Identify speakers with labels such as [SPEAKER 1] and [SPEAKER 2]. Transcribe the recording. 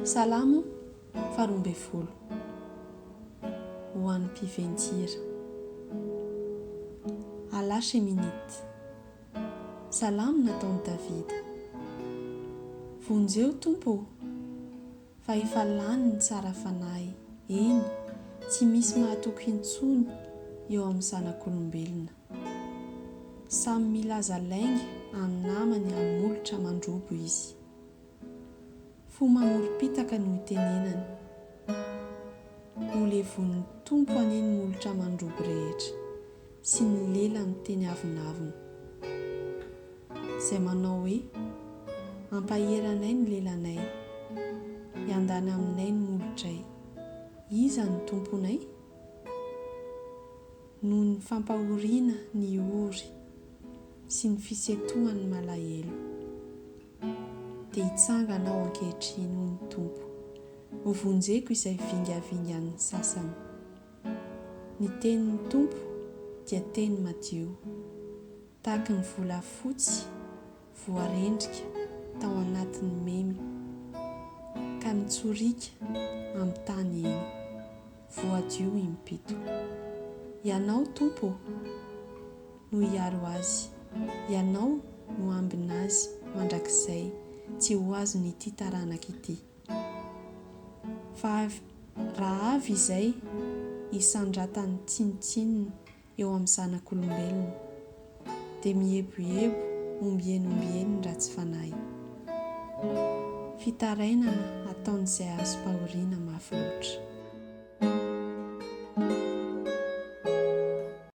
[SPEAKER 1] Salamo faharoa ambin'ny folo ho an'ny mpiventy-hira. Alà Sheminit. Salamo nataon'i Davida. Vonjeo, Tompo ô! Fa efa lany ny tsara fanahy, eny, tsy misy mahatoky intsony eo amin'ny zanak'olombelona. Samy milaza lainga any namany any molotra mandrobo izy. Fo mamorom-pitaka no itenenany. Ho levon'ny Tompo anie ny molotra mandrobo rehetra sy ny lela miteny avonavona. Izay manao hoe, Ampahery anay ny lelanay. Hiandany aminay ny molotray. Iza no Tomponay? noho ny fampahoriana ny ory sy ny fisentohan'ny malahelo, dia hitsangana aho ankehitriny, hoy ny Tompo, hovonjeko izay vingavingan'ny sasany. Ny tenin'ny Tompo dia teny madio, tahaky ny volafotsy voarendrika tao anatin'ny memy ka nitsorika amin'ny tany eny, voadio im-pito. Ianao, Tompo ô, no hiaro azy, Ianao no ambin' azy mandrakizay tsy ho azon'ity taranaka ity. Fa raha avy izay hisandratan'ny tsinontsinona eo amin'ny zanak'olombelona, dia mieboebo ombieny ombieny ny ratsy fanahy. Fitarainana ataon'izay azom-pahoriana mafy loatra.